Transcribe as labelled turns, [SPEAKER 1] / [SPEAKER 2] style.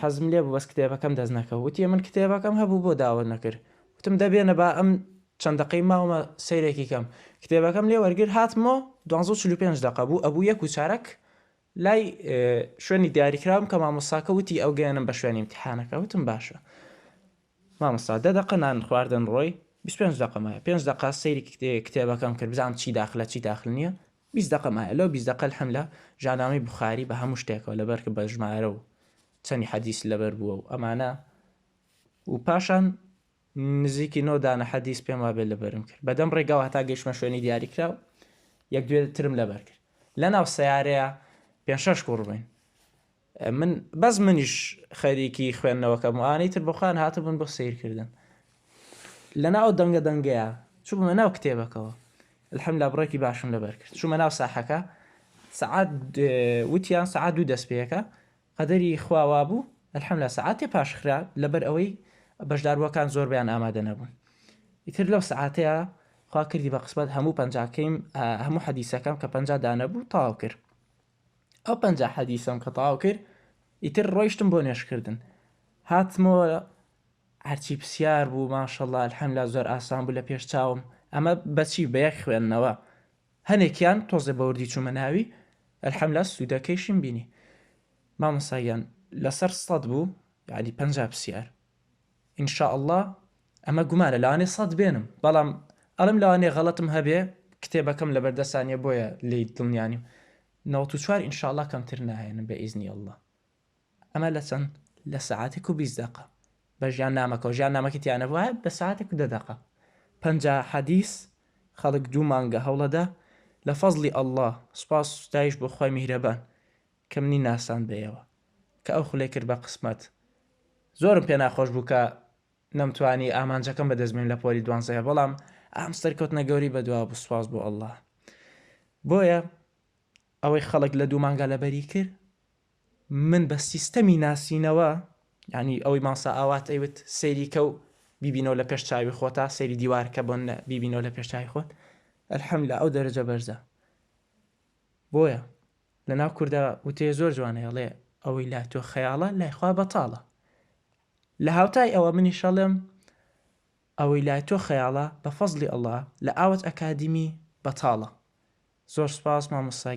[SPEAKER 1] حەزم لێبوو بەس کتێبەکەم دەست نەکەوت وتی من کتێبەکەم هەبوو بۆ داوت نەکرد وتم دە بێنە با ئەم چەند دەقەی ماومە سەیرێکی کەم کتێبەکەم لێ وەرگر هاتمۆ دوانزە و چل و پێنج دەقە بوو ئەبوو یەک و چارەک لای شوێنی دیاریکراوم کە مامۆستاکە وتی ئەو گەیانم بە شوێنی امتحانەکە وتم باشە مامۆستا دە دەقە نان خواردن ڕۆی 25 دقە مایە پێنج دقا سەیری کتێبەکەم کرد بزانم چی داخلە چی داخل نییە بیست دەقە مایە لەو بیست دەقە الحملە ژانامەی بوخاری بە هەموو شتێکەوە لەبەر کە بە ژمارە و چەنی حەدیس لەبەر بووە و ئەمانە و پاشان نزیکی نۆ دانە حەدیس پێم وابێت لەبەرم کرد بەدەم ڕێگاوە هەتا گەیشتمە شوێنی دیاریکراو یەک دوێ ترم لەبەر کرد لە ناو سەیارەیە پێنج شەش کوڕ بووین من بەس منیش خەریکی خوێندنەوەکەم و ئانەی تر بەخۆیان هاتبوون بۆ سەیرکردن لەنا ئەو دەنگە دەنگەیە چوومە ناو کتێبەکەوە الحمدلله بڕێکی باشم لەبەر کرد چوومە ناو ساحەکە سعات وتیان سعات دوو دەست پێەکە قەدەری خواوا بوو الحمدلله سعاتێ پاشخرا لەبەر ئەوەی بەشداربووەکان زۆربیان ئامادە نەبوون ئیتر لەو سعاتەیە خوا کردی بە قسمەت هەموو پەنجاکەیم هەموو حەدیسەکەم کە پەنج دانەبوو تاو کرد ئەو پەنجا حەدیسەم کە تەواو کرد ئیتر ڕۆیشتم بۆ نوێژکردن هاتمەوە هەرچی پرسیار بوو ماشەڵڵا الحەمدللە زۆر ئاسان بوو لە پێش چاوم ئەمە بەچی بە یەک خوێندنەوە هەنێکیان تۆزێ بە وردی چوومە ناوی الحەمدللە سوودەکەیشیم بینی مامۆستا گیان لەسەر سەد بوو یانی پەنجا پرسیار ان شاء اللە ئەمە گومانە لەوانەیە سەد بێنم بەڵام ئەڵێم لەوانەیە غەڵەتم هەبێ کتێبەکەم لەبەر دەستا نیە بۆیە لێی دڵنیا نیم نەوەت و چوار ان شاء اللە کەمتر ناهێنم بە ئیزنی اللە ئەمە لە چەند لە سەعاتێک و بیست دەقە بە ژیان نامەکەەوە ژیان نامەکە تیانە وایە بە ساعتێک و دە دەقە پەنجا حەدیس خەڵک دوو مانگە هەوڵەدا لە فەزلی اللە سوپاس ستایش بۆ خوای میهرەبان کە منی ناساند بە ئێوە. کە ئەو خولەی کرد بە قسمەت. زۆرم پێ ناخۆش بوو کە نەمتوانی ئامانجەکەم بە دەست بێنم لە پۆلی دوانزەیە بەڵام ئەم سەرکەوتنە گەورەی بە دوا بوو سوپاس بۆ اللە بۆیە ئەوەی خەڵک لە دوو مانگا لەبەری کرد من بە سیستەمی ناسینەوە یانی ئەوەی مامسا ئاوات ئەیوت سەیری کە و بیبینەوە لە پێش چاوی خۆتا سەیری دیوار کە بۆن بیبینەوە لە پێش چاوی خۆت الحمدللە ئەو دەرەجە بەرزە بۆیە لە ناو کوردا وتەیە زۆر جوانە ئەڵێ، ئەوەی لای تۆ خەیاڵە لای خوا بەتاڵە. لە هاوتای ئەوە منیش ئەڵێم، ئەوەی لای تۆ خەیاڵە بە فەزڵی اللە لە ئاوەت ئەکادیمی بەتاڵە. زۆر سوپاس مامۆستا گیان.